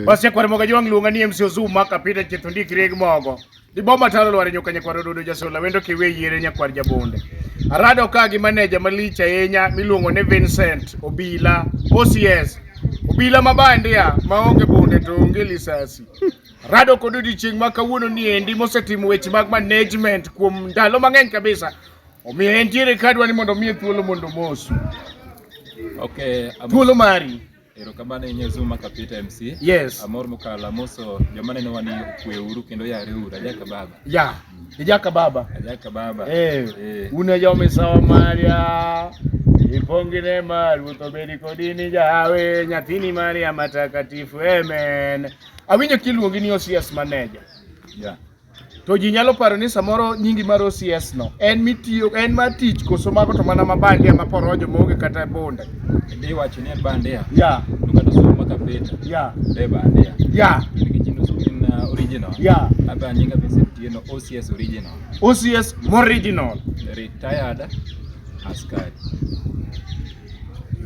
Bas nyakwar moga jwang' luonga ni MC Ozum maka pita chetho ndik reg mogo. Di boma talo lware nyoka nyakwar ododo jasola wendo kiwe yiere nyakwar jabonde. Arado ka gi maneja malich ahinya miluongo ni Vincent Obila. OCS. Obila mabandia maonge bunde to onge lisasi. Rado kod odiechieng' ma kawuono ni endi mosetimo weche mag management kuom ndalo mang'eny kabisa. Omiyo entiere kadwa ni mondo omiye thuolo mondo omosu. Okay, I'm- Thuolo mari. Erokamano inye Zuma Kapita MC. Yes. Amor mukala moso joma neno wani kwe uru kendo yare uru ajaka baba. Ya. Ijaka baba. Ajaka baba. Eh. eh. Una jome sawa Maria. Ipongine maru to bedi kodini jawe nyathini Maria matakatifu. Amen. Awinyo kiluongi ni OCS manager. Yeah. To ji nyalo paro ni samoro nyingi mar OCS no en mitiyo en ma tich koso mago to mana ma bandia ma porojo maonge kata bonde. Ndi wacho ni en bandia. Ya. To kata somo maka pita. Ya. Be bandia. Ya. Nikech ino somo in uh, original. Ya. Aba nyinga be setiyo no OCS original. OCS original. Retired askari.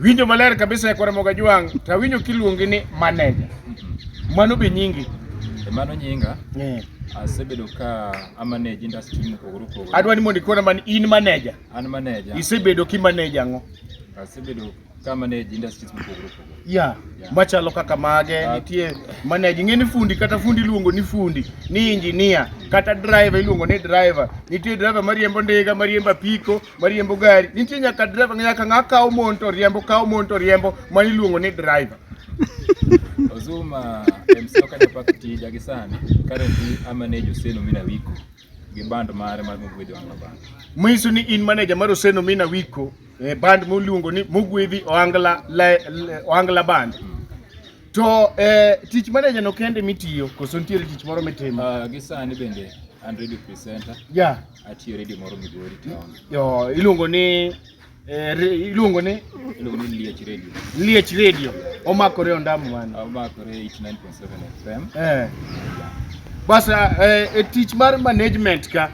Winjo maler kabisa ekore moga jwang' to awinjo kiluongi ni maneja. Mano be nyingi. E mano nyinga. Yeah. Asebedo ka amanage industry mopogore opogore. Adwa ni mondo ikona man in maneja. An maneja. Isebedo ki maneja ang'o? Asebedo ka maneja industries mopogore opogore. Yeah. yeah. Machalo kaka mage uh, nitie maneja ing'e ni fundi kata fundi iluongo ni fundi, ni engineer, kata driver iluongo ni driver. Nitie driver mariembo ndiga, mariembo apiko mariembo gari nitie nyaka driver nyaka ng'a kawo mon to riembo kawo mon to riembo mano iluongo ni driver Ozuma MC Okanya Park tija gi sani currently a manage Hussein Omina Wiko gi band mare mar Mugwedhi Wanga Band. Misu ni in manager mar Hussein Omina Wiko e band moluongo ni Mugwedhi Ohangla Ohangla Band. Mm. To eh, tich manager no kende mitiyo koso nitiere tich moro mitimo? Uh, gi sani bende and radio presenter. Yeah. Atiyo redio moro Migori town. Yo, iluongo ni eh, re- iluongo ni Iluongo ni Liech Radio. Liech Radio. Omakore ondamo mano. Omakore 89.7 FM. Eh. Bas eh, e tich mar management ka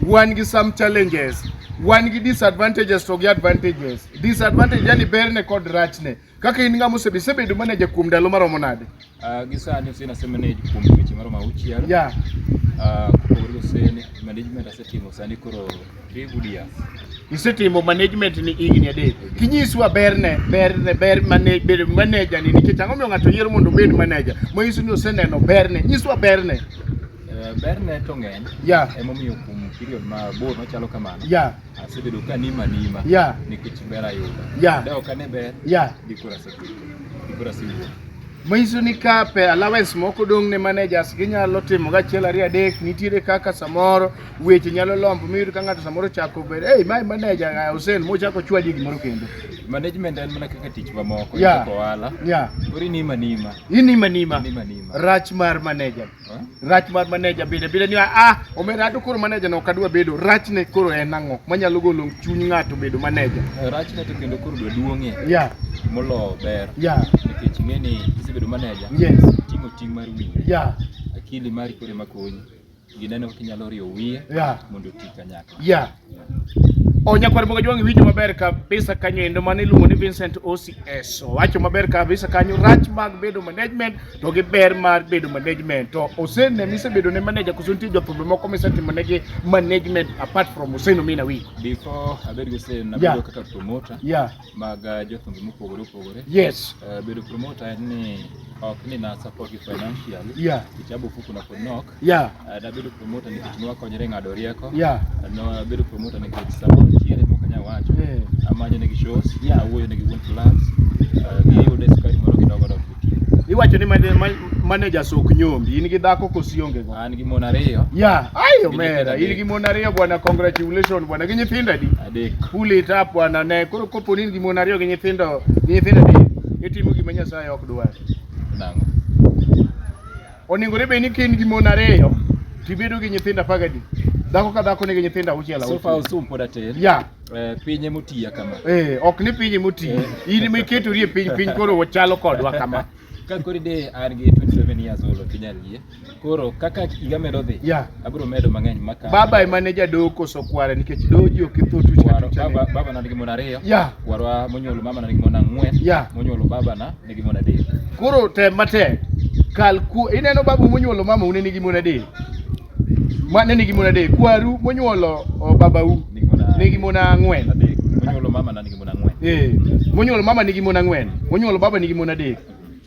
wan gi some challenges, wan gi disadvantages to gi advantages. Disadvantage yani berne kod rachne. Kaka in ng'ama osebe isebedo manager kuom ndalo maromo nade? Uh, gi sani ose nasema ne kuom dweche maromo auchiel. Yeah. Uh, kopogore goseni management asetimo sani koro three good years. Isetimo management ni higni adek. Kinyiswa berne berne ber mane bedo manager ni nikech ang'o miyo ng'ato yiero mondo obed manager. Ma isu ni oseneno berne. Nyiswa berne. Uh, berne to ng'eny. Yeah. Emomiyo kuom period mabor machalo kamano. Yeah. asebedo ka nima nima yeah. nikech ber ayudo yeah. dawo kane ber yeah. gikora sebedo gikora siwuok manyiso ni ka pe allowance moko dong' ne managers ginyalo timo gachiel ariyo adek nitiere kaka samoro weche nyalo lombo miyudo ka ng'ato samoro chako bedo hey, my manager uh, Hussein mochako chwadi gimoro kendo management en mana kaka tich mamoko yeah. ohala yeah. kori nima nima inima nima rach mar manager rach mar maneja bile bile ni a ah, omera to koro maneja no kadwa bedo rach ne koro en ang'o manyalo golo chuny ng'ato bedo maneja eh, rach ne to kendo koro dwa duong'e yeah molo ber yeah nikech ing'e ni kisebedo maneja yes ting'o ting' mar wiyi yeah akili mari koro ema konyi gineno kaka inyalo riwo wiye yeah mondo oti kanyakla yeah O nyakwar Boga Jwang' winjo maber kabisa kanyo endo mano iluongo ni Vincent OCS. Owacho maber kabisa kanyo rach mag bedo management to gi ber mar bedo management. To Hussein ne mise bedo ne manager koso nitie jothumbe moko mise timo negi management apart from Hussein Omina Wiko. Before abed gi Hussein na bedo kaka promoter yeah. mag uh, jothumbe mopogore opogore. Yes. Uh, bedo promoter en ni ok ni na support gi financially. Yeah. Kichabu fuku na konok. Yeah. Uh, nabedo promoter nikech nwakonyre ng'ado rieko. Yeah. Uh, nabedo promoter nikech sama nitiere mok anyal wacho. Yeah. Amanyo negi shows. Yeah. Awuoyo negi wuon clubs. Uh, giyude skari moro kidogo dok nitie. Iwacho ni manager sok nyombi. In gi dhako kosi onge go? An gi mon ariyo. Yeah. Ayo mera. In gi mon ariyo bwana, congratulations bwana. Gi nyithindo adi? Adek. Pull it up bwana. Ne koro kopo ni in gi mon ariyo gi nyithindo, gi nyithindo adi? Itimo gima Nyasaye ok dwar. Nang'o? Onego ne bed ni ka in gi mon ariyo to ibedo gi nyithindo apar gadi. Dhako ka dhako nigi nyithindo auchiel So far auchiel. Osum pod atin. Ya, Eh, piny ema otiya kama. eh, ok ni piny moti. In ema iketori e piny, piny koro wachalo kodwa kama. Ka koro de an gi 27 years old ok inyal yie. Koro kaka higa medo dhi, Ya. abiro medo mang'eny maka. Baba ema ne jadoo koso kwara nikech doji ok itho tuch Kwaro- kata baba uchane. baba na nigi mon ariyo. Ya. Kwarwa monyuolo mama na nigi mon ang'wen. Ya. Monyuolo baba na nigi mon adek. Koro tem matek. Kal ku ineno babu monyuolo mama une nigi mon adek. Ma ne nigi mon adek. Kwaru monyuolo oh, babau Nigi mon a- nigi mon ang'wen. adek. Monyuolo mama na nigi mon ang'wen. Eh, monyuolo mama nigi mon ang'wen, monyuolo baba nigi mon adek.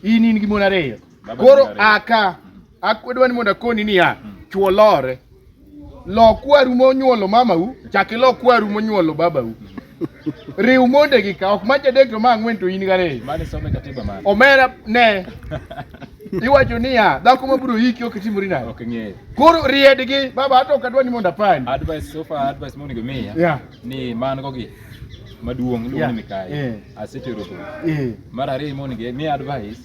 In in gi mon ariyo. Baba Koro nigi ariyo. aka Akwedo ni mondo akoni niya, chwo lore. Lo kwaru monyuolo mamau, chak ilo kwaru monyuolo babau. Riw monde gi ka ok macha adek to ma ang'wen to in gariyo. Mane some katiba mane? Omera ne. Iwacho niya, dhako mabiro yiki ok timori nade? Ok ng'eyo. Koro riedgi, baba ato ok adwa ni mondo apandi. Advice so far advice monego imiya Yeah. ni man go gi maduong' iluongo Yeah. ni Mikayi. Eh. Asetero dhok. Eh. Mar ariyo monego imiya advice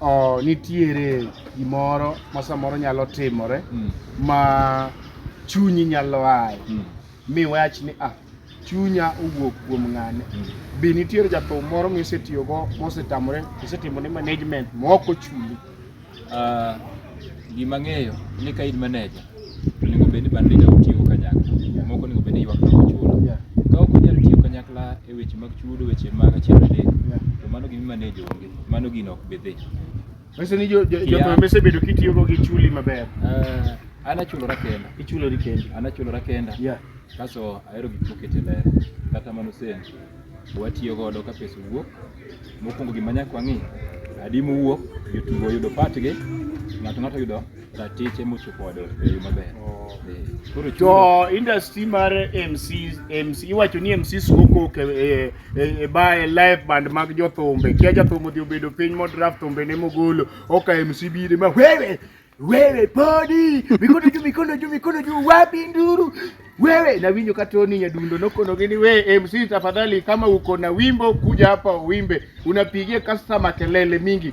oh, nitiere gimoro ma samoro nyalo timore mm. ma chunyi nyalo aye mm. mi wach ni ah, chunya owuok kuom ng'ane mm. be nitiere jathum moro misetiyogo mosetamore isetimone management maok ochuli uh, gima ng'eyo ni ka in maneja onego bed ni bande ja utiyo kanyakla moko onego bed ni ywak na ochulo ka ok onyal tiyo kanyakla e weche mag chudo weche mag achiel adek to mano gima maneja onge mano gino ok bi dhi. Mese ni jo jo jo Yeah. mese bedo kitiyo go gi chuli maber. Eh, an achulora kenda Ichulo ri kendi. an achulora kenda Yeah. kaso ahero gik mokete ler kata mano sen watiyo godo ka pesa wuok mokwongo gima nyaka wang'i adi mowuok jotugo oyudo patgi ng'ato ng'ato oyudo ratiche mochopo wadwa e yo maber. Oh. Koro chudo To industry mar MC MC iwacho ni MC soko ke e, e, e bae live band mag jothumbe. Kia jathumbe odhi obedo piny mo draft thumbe ne mogolo. Oka MC bire ma wewe wewe podi mikono juu mikono juu mikono juu wapi nduru wewe na winyo katoni nyadundo nokono gini we MC tafadhali kama uko na wimbo kuja hapa uimbe unapigia customer kelele mingi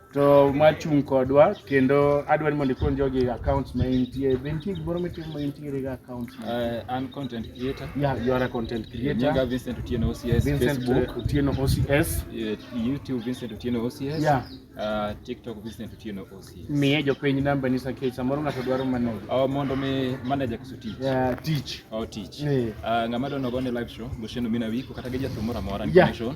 to machung' kodwa kendo adwani mondo ikon jogi accounts ma intie be nitie gimoro mitimo ma intiere ga accounts ma Uh, an content creator. yeah you are a content Nyinga creator Vincent Otieno OCS, Vincent Facebook, Otieno OCS eh, YouTube Vincent Otieno OCS, Yeah. uh, TikTok Vincent Otieno OCS. miye jopiny namba ni sakech samoro ng'ato dwaro maneno Oh, mondo mi manager koso tich. yeah, tich Oh, tich. Eh. Uh, ng'ama dono gone live show, Gosheno Mina Wiko, kata gi jathum moro amora Yeah. information.